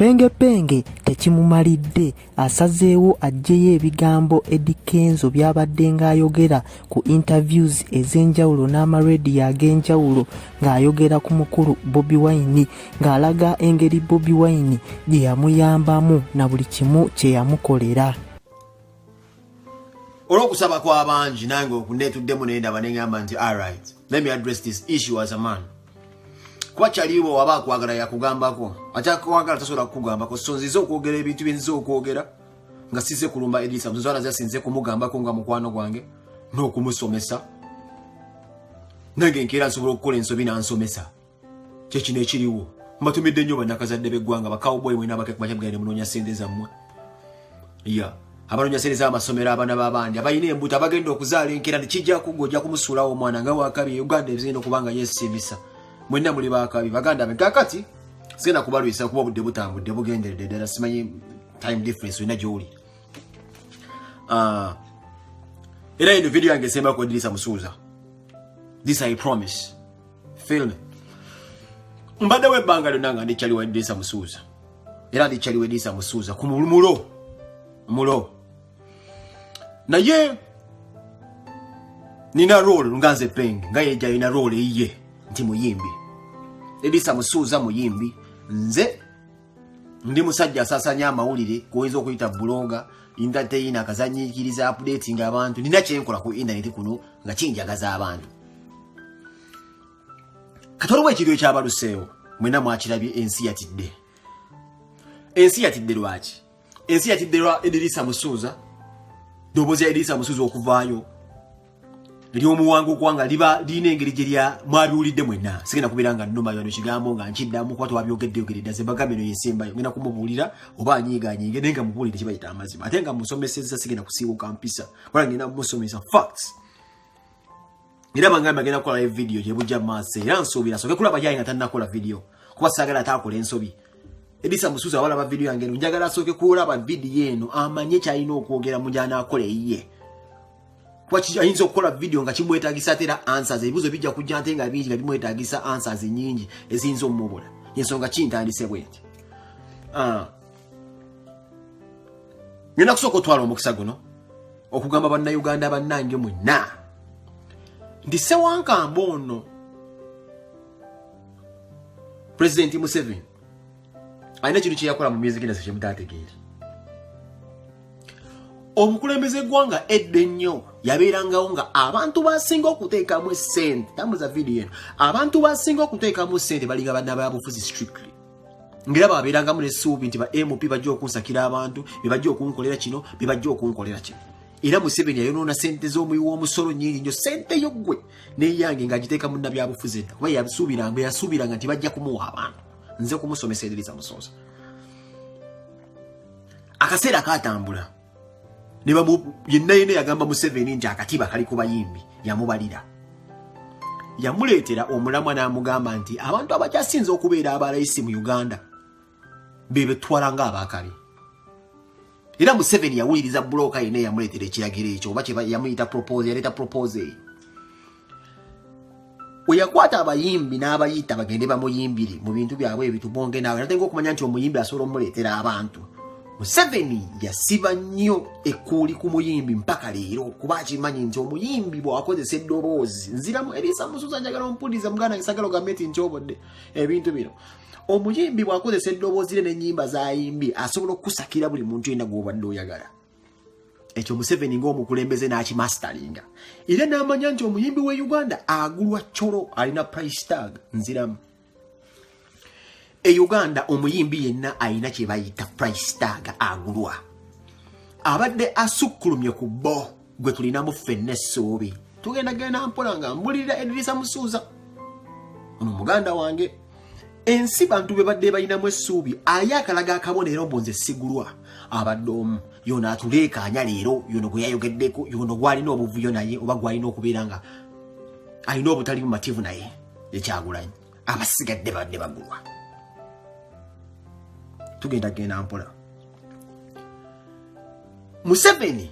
Pengepenge tekimumalidde asazeewo aggyeyo ebigambo Eddy Kenzo by'abaddenga ayogera ku interviews ez'enjawulo n'amarediyo ag'enjawulo ng'ayogera ku mukulu Bobi Wine ng'alaga engeri Bobi Wine gye yamuyambamu na buli kimu kye yamukolera. olwokusaba kwabangi nange okunetuddemu nendaba nengamba nti arit let me address this issue as a man kuba kyaliwo waba akwagala yakugambako atakwagala tasobola kukugambako so nzize okwogera ebintu byenzize okwogera nga size kulumba edisa muzana zasinze kumugambako nga mukwano gwange n'okumusomesa nange nkeera nsobola okukola ensobi nansomesa kyekino ekiriwo mbatumidde nnyo banakazadde beggwanga bakawboy mwena abakekumacabgaire munoonya sente zammwe ya abanoonya sente zamasomero abaana babandi abalina embuto abagenda okuzaala enkera nekijja kugga ojja kumusuulawo omwana nga wakabi uganda ebizina okubanga yesiimisa mwenna muli bakabi baganda be kakati sigenda kubalwisa kuba obudde butambudde bugenderedde ddala simanyi time difference olina gyoli ah, era eno vidiyo yange esembakuedirisa musuuza this i promise film mbadde webbanga lyonna nga ndikyali wadisa musuuza era ndikyali wedisa musuuza ku mulo mulo naye nina role nga nze peng nga yejayina role eyiye nti muyimbi edisa musuuza muyimbi nze ndi musajja asasanya amawulire kuoyinza okuyita buloga entertaina akazanyikiriza apudeti nga abantu nina kyenkola ku intaneti kuno nga kinjagaza abantu kati waliwo ekiro ekyabaluseewo mwena mwakirabye ensi yatidde ensi yatidde lwaki ensi yatidde lwa edirisa musuuza ddoboozi ya edirisa musuuza okuvaayo lyomuwanga okuwanga liba lirina engeri gye lya mwabiwulidde mwenna sigenda kubeera nga nnuma yano kigambo nga nkiddamu kuba twabyogedde yogeredda nze mbagambe eno yesembayo ngenda kumubuulira oba anyiiganyinge naye nga mubuulire kibayita amazima ate nga musomesezza sigenda kusiiwuka mpisa kubanga ngenda musomesa facts era bangamba agenda kukola live video gyebujja mu maaso era nsuubira soke kulaba yayi nga tannakola video kuba saagala ataakola ensobi edisa musuuza awalaba video yange eno njagala asooke kulaba video eno amanye kyalina okwogera mu gyanaakola eyiye kuba ayinza okukola video nga kimwetagisa ate era answers ebibuuzo bijja kujja nte nga bingi nga bimwetagisa answers nyingi eziyinza omumubula ensonga kintandise bwenti ah, ngenda kusooka otwala omukisa guno okugamba bannayuganda bannange mwenna nti sewankamba ono pulezidenti museveni alina ekintu kyeyakola mu myezi gina sekyemutategeere omukulembeze gwanga edda ennyo yabeerangawo nga abantu basinga okuteekamu esente tambuza vidiyo eno abantu basinga okuteekamu sente balinga banna babufuzi strictly ngera babeerangamu nesuubi nti ba mp bajja okunsakira abantu bebajja okunkolera kino bebajja okunkolera kino era museveni ayonoona sente z'omuyi w'omusolo nyingi nyo sente yo ggwe neyange ngaagiteeka munna byabufuzi edda kuba yasuubiranga yasuubiranga nti bajja kumuwa abantu nze kumusomeserereza musoosa akaseera kaatambula yenna yenna yagamba museveni nti akatiba kali ku bayimbi yamubalira yamuleetera omulamwa n'amugamba nti abantu abakyasinze okubeera abalayisi mu uganda bebetwala nga abakale era museveni yawuliriza bulooka yenna yamuleetera ekiragiro ekyo oba yamuyita propose yaleeta propose eyo weyakwata abayimbi n'abayita bagende bamuyimbire mu bintu byabwe ebitubonge naawe natenga okumanya nti omuyimbi asobola omuleetera abantu museveni yasiba nnyo ekkuuli ku muyimbi mpaka leero kuba akimanyi nti omuyimbi bwakozesa eddoboozi nziramu eriisa musuza njagala ompuliza muganda gisagala ogambe ti nkyobodde ebintu bino omuyimbi bwakozesa eddoboozi re n'ennyimba zayimbye asobola okukusakira buli muntu yena gwobadde oyagala ekyo museveni ngaomukulembeze n'akimastalinga era n'amanya nti omuyimbi w'e uganda agulwa colo alina price tag nziramu e uganda omuyimbi yenna alina kye bayita price tag agulwa abadde asukkulumye ku bo gwe tulinamu ffenna essuubi tugenda genda mpola nga mbulirira edirisa musuuza ono muganda wange ensi bantu be badde balinamu essuubi aye akalaga akabonero mbu nze sigulwa abadde omu yono atuleekaanya leero yono gwe yayogeddeko yono gwalina obuvuyo naye oba gwalina okubeera nga alina obutali bumativu naye ekyagulanyi abasigadde badde bagulwa tugenda genda mpola museveni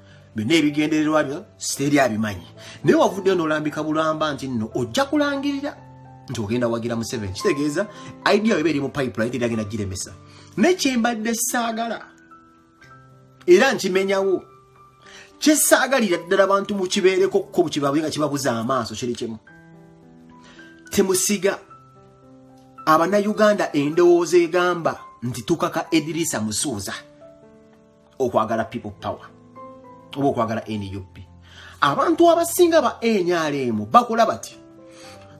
byonna ebigendererwa byo siteeri abimanyi naye wavuddeyo n'olambika bulamba nti nno ojja kulangirira nti ogenda wagira museveni kitegeeza idea eba eri mu pipeline teri agenda giremesa naye kyembadde saagala era nkimenyawo kyesaagalira ddala bantu mukibeereko kuko bukibabwe nga kibabuza amaaso kiri kimu temusiga abanayuganda endowooza egamba nti tukaka edirisa musuuza okwagala people power oba okwagala nup abantu abasinga ba nrm bakola bati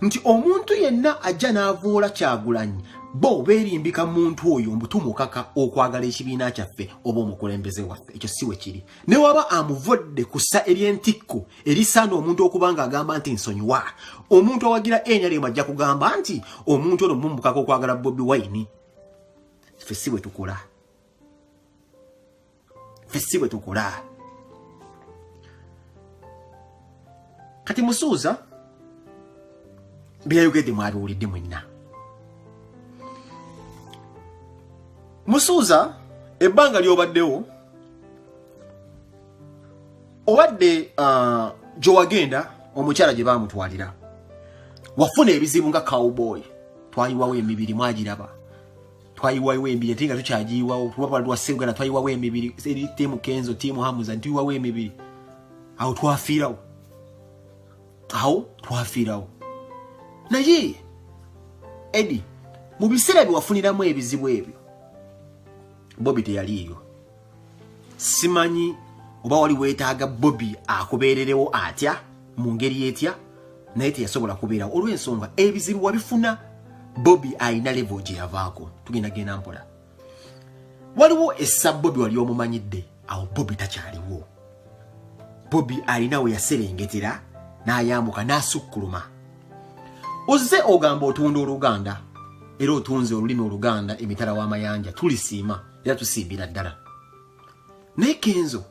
nti omuntu yenna ajja n'avuula kyagulanyi bo berimbika muntu oyo mbutumukaka okwagala ekibiina kyaffe oba omukulembeze waffe ekyo siwe kiri ne waba amuvodde kussa ebyentikko erisaana omuntu okuba nga agamba nti nsonyiwa omuntu awagira enyalemu ajja kugamba nti omuntu ono mumukaka okwagala bobi wine ffe si bwe tukola ffe si bwe tukola kati musuuza byeyayogedde mwabiwulidde mwenna musuuza ebbanga lyobaddewo obadde uh, gyewagenda omukyala gye bamutwalira wafuna ebizibu nga cowboy twayiwawo emibiri mwagiraba twayiwayo emibiri ate nga tukyagiyiwawo tuba twali twasse uganda twayiwawo emibiri eri tiimu kenzo tiimu hamuza nituyiwawo emibiri awo twafiirawo awo twafiirawo naye edi mu biseera byewafuniramu ebizibu ebyo bobi teyaliiyo simanyi oba wali weetaaga bobi akubeererewo atya mu ngeri etya naye teyasobola kubeerawo olw'ensonga ebizibu wabifuna bobi alina levo gye yavaako tugenda genda mpola waliwo essa bobi wali omumanyidde awo bobi takyaliwo bobi alina we yaserengetera n'ayambuka n'asukkuluma ozze ogamba otunda oluganda era otunze olulimi oluganda emitala w'amayanja tulisiima era tusimbira ddala naye kenzo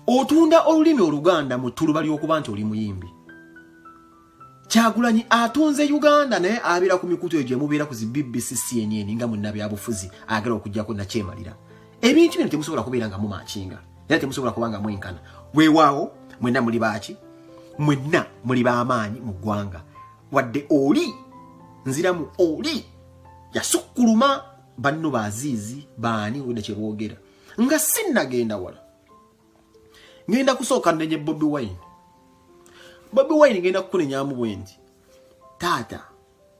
otunda olulimi oluganda mu ttuluba ly'okuba nti oli muyimbi kyagulanyi atunze uganda naye abeera ku mikutu egyo emubeera ku zi bbc cnn nga munnabyabufuzi agala okugyako nakyemalira ebintu bino temusobola kubeera nga mumakinga era temusobola kuba nga mwenkana weewaawo mwenna muli baaki mwenna muli bamaanyi mu ggwanga wadde oli nziramu oli yasukkuluma banno baziizi baani wena kyebogera nga sinnagenda wala ngenda kusooka nenye bobi wine bobi wine ngenda kukunenyamu bwendi taata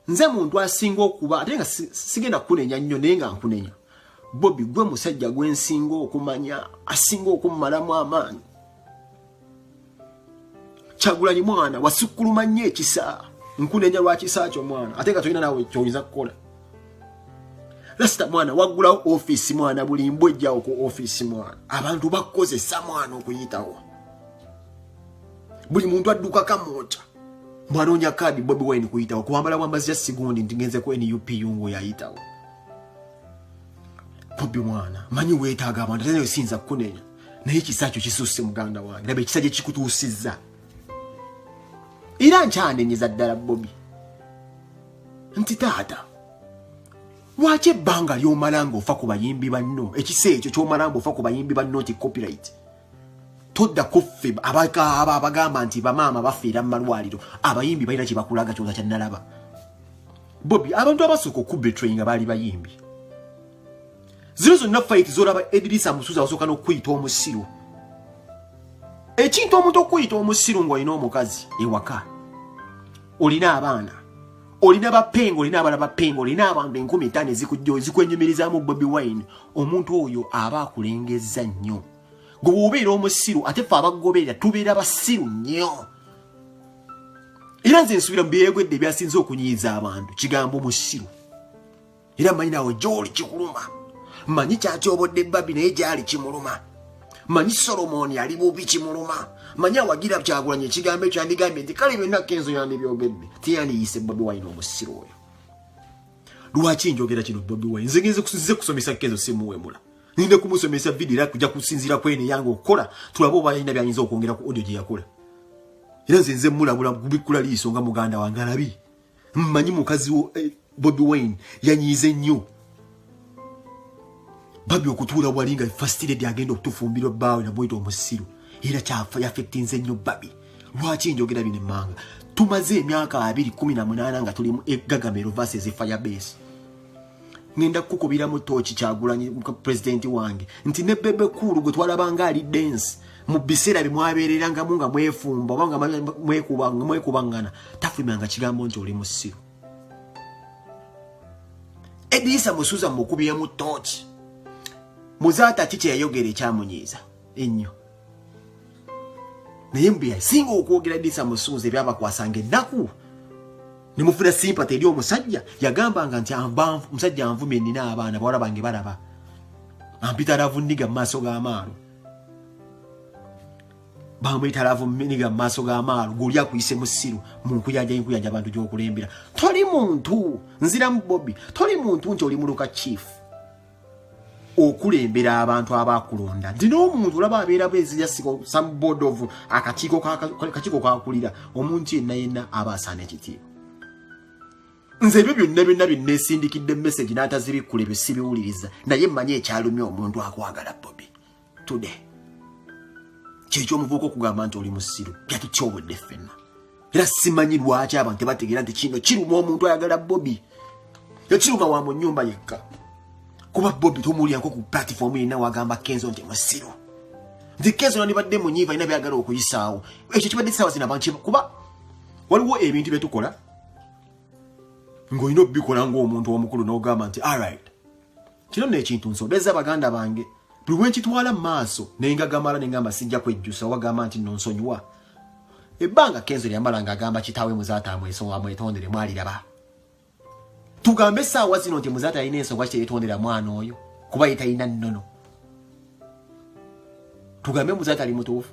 nze muntu asinga okuba ate nga sigenda kukunenya nnyo naye nga nkunenya bobi gwe musajja gwensinga okumanya asinga okummalamu amaanyi kyagulanyi mwana wasukkuluma nnyo ekisa nkunenya lwa kisa kyo mwana ate nga tolina nawe kyoyinza kukola lasita mwana waggulawo ofiisi mwana buli mbwa ejjawo ku ofiisi mwana abantu bakukozesa mwana okuyitawo buli muntu adduka kamooca mwanoonya kaadi bobi wine kuyitawo kuwambala bwambazi ya sigundi nti ngenze ku nup yungu yayitawo bobi mwana manyi weetaaga abantu atenayo siyinza kukunenya naye ekisa kyo kisusse muganda wange laba ekisa gye kikutuusizza era nkyanenyeza ddala bobi nti taata lwaki ebbanga lyomala nga ofa ku bayimbi banno ekisa ekyo kyomala nga ofa ku bayimbi banno nti copyright todda kuffe abakaaba abagamba nti bamaama bafiira mu malwaliro abayimbi balina kye bakulaga kyoza kyannalaba bobi abantu abasooka okubetrayinga baali bayimbi zino zonna fayiti zolaba edirisa musuza wasooka n'okukuyita omusiru ekintu omuntu okukuyita omusiru ng'olina omukazi ewaka olina abaana olina bapenga olina abana bapenga olina abantu enkumi etaano ezikujjo ezikwenyumirizamu bobi wine omuntu oyo aba akulengezza nnyo gwe wobeera omusiru ate fe abagoberera tubeera basiru nnyo era nze nsubira mu byeyegwedde ebyasinze okunyiiza abantu kigambo musiru era manyi nawe gyoli kikuluma manyi kyatyobodde babi naye gyali kimuluma manyi solomoni ali bubi kimuluma manyi awagira kyagulanya ekigambo ekyo yandigambye nti kale byonna kenzo yandibyogedde teyandiyise bobi wine omusiru oyo lwaki njogera kino bobi wine nzegenze kusize kusomesa kenzo simuwemula ninde kumusomesa vidiyo era kuja kusinziira kwene yange okukola tulabe oba yalina byayinza okwongera ku odio gye yakola era nze nze mulabula gubikkula liiso nga muganda wange alabi mmanyi mukazi wo eh, bobi wine yanyiize nnyo babi okutuula wali nga fastiredi agenda okutufumbirwa bbaawe namuyita omusiru era kyafa yafektinze nnyo babi lwaki enjogera bino emmanga tumaze emyaka abiri kumi na munaana nga tuli mu egagamero vases fire base ngenda kukubira mu tochi kyagulanyi president wange nti ne bebe cool gwe twalabanga ali dance mu biseera bye mwabeereranga mu nga mwefumba oba nga mwekubangana tafumanga kigambo nti oli musiru edisa musuza mukubiremu tochi muzaata ki kyeyayogera ekyamunyiiza ennyo naye mbu yasinga okwogera edisa musuuza ebyabakwasanga ennaku nemufuna simpati eri omusajja yagambanga nti omusajja anvumye nina abaana bawala bange balaba ampita lavu niga mu maaso g'amaalo bamuyita lavu niga mu maaso g'amaalo gweoli akuyise musiru munkuyanja nkuyanja abantu gyokulembera toli muntu nziramu bobi toli muntu nti oli muluka chief okulembera abantu abaakulonda nti n'omuntu olaba abeera bwezirya siko some board of akakiiko kakiiko kakulira omuntu yenna yenna aba asaana ekitiibwa nze ebyo byonna byonna bye neesindikidde message n'atazibikkula ebyo sibiwuliriza naye mmanyi ekyalumya omuntu akwagala bobi today kyekyo omuvuuka okugamba nti oli musiru yatutyobodde ffenna era simanyi lwaki abantu tebategeera nti kino kiruma omuntu ayagala bobi ekiruma wa mu nyumba yekka kuba bobi tomuwulirako ku platifoomu yenna wagamba kenzo nti musiru nti kenzo nandibadde munyiiva alina byagala okuyisaawo ekyo kibadde saawa zina bantu kuba waliwo ebintu byetukola ng'olina obikola ng'omuntu omukulu n'ogamba nti arit kino nno ekintu nsobeza baganda bange buli wenkitwala mu maaso nengagamala nengamba sijja kwejjusa wagamba nti nno nsonyiwa ebbanga kenzo lyamala nga agamba kitaawe muzaata amwesonga amwetondere mwaliraba tugambe essaawa zino nti muzaata yalina ensonga kiteetondera mwana oyo kuba yetalina nnono tugambe muzaata ali mutuufu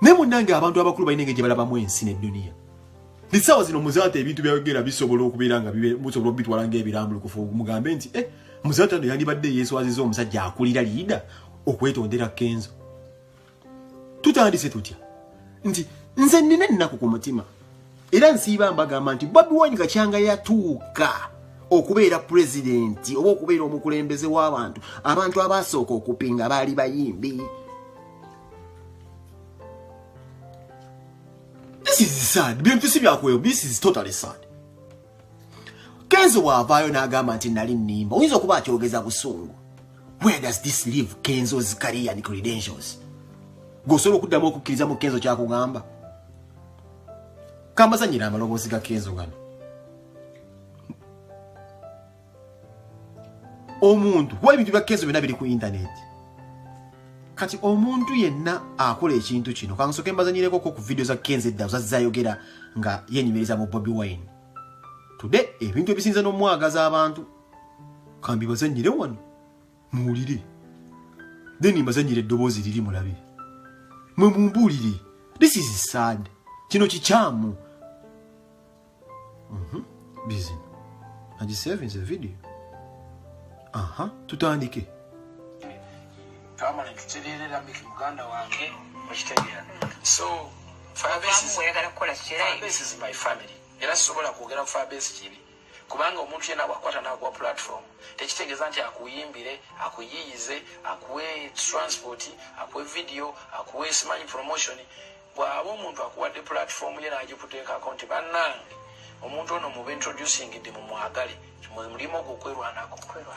naye munnange abantu abakulu balina engeri gye balabamu ensi nedduniya essaawa zino muzaata ebintu byayogera bisobola okubeera nga musobola okubitwala ngaebirambulukufu mugambe nti e muzaata no yandibadde yeeswaziza omusajja akulira liida okwetondera kenzo tutandise tutya nti nze nina ennaku ku mutima era nsiiba mbagamba nti bobi wine kakyanga yatuuka okubeera pulezidenti oba okubeera omukulembeze w'abantu abantu abaasooka okupinga baali bayimbi this is sad bintu si byakweyo this is totally sad kenzi waavaayo n'agamba nti nali nnimba oyinza okuba akyogeza busungu where does this leave kenzo's career and credentials gweosobola okuddamu okukkiriza mu kenzo kyakugamba kambazanyira amaloboozi ga kenzo gano omuntu kuba ebintu bya kenzo byonna biri ku intaneti kati omuntu yenna akola ekintu kino kansoke mbazanyirekoko ku vidiyo za kenzo edda zazayogera nga yenyumiriza mu bobi wine tude ebintu ebisinza n'omwagaza abantu kambi bazanyire wano muwulire then mbazanyire eddoboozi liri mulabe mwe mumbuulire this is sad kino kikyamu bizino agisevinze video aha tutandike twamala tutererera miki muganda wange okitegeera so oyagala kukola kiraisi is my family era sisobola kwogera fabesi kibi kubanga omuntu yena bwakwata nakuwa platform tekitegeeza nti akuyimbire akuyiyize akuwe transport akuwe video akuwe simanyi promotion Bwaba omuntu akuwadde platform ye nagikuteekako nti bannange omuntu ono muba introducing de mumwagale mulimu ogwo okwerwanako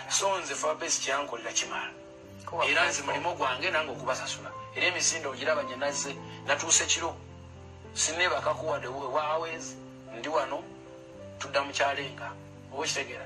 so nze fabes kyankolera kimala era nze mulimu gwange nange okubasasula era emisinde ogiraba nye nazze natuuse kiro sinebakakuwadewe wawezi ndi wano tudda mukyalenga oba okitegera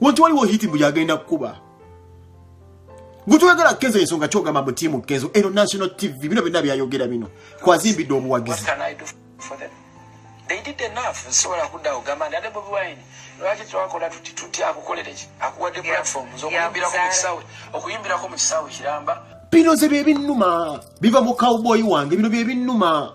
Wanti waliwo hiti mbu yagenda kukuba. Gutwagala kezo ensonga kyogamba mbu tiimu kezo eno national TV bino byonna byayogera bino kwazimbidde obuwagizi. They did enough nsobola kuddawo gamba nti ate Bobi Wine lwaki twakola tuti tuti akukolere ki akuwadde platform zokuyimbirako mu kisaawe okuyimbirako mu kisaawe kiramba. Bino ze bye binnuma biva mu cowboy wange bino bye binnuma.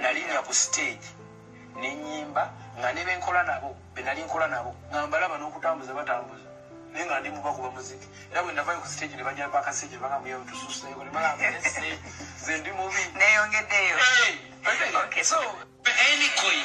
nalinya ku stage nenyimba nga nebenkola nabo benali nkola nabo nga mbalaba nokutambuza batambuza naye nga ndi mubakuba muziki era bwe navayo ku stage ne banyamba akasage banga muyawe tususeyo ne banga mbese ze ndi mubi neyongeddeyo so any coin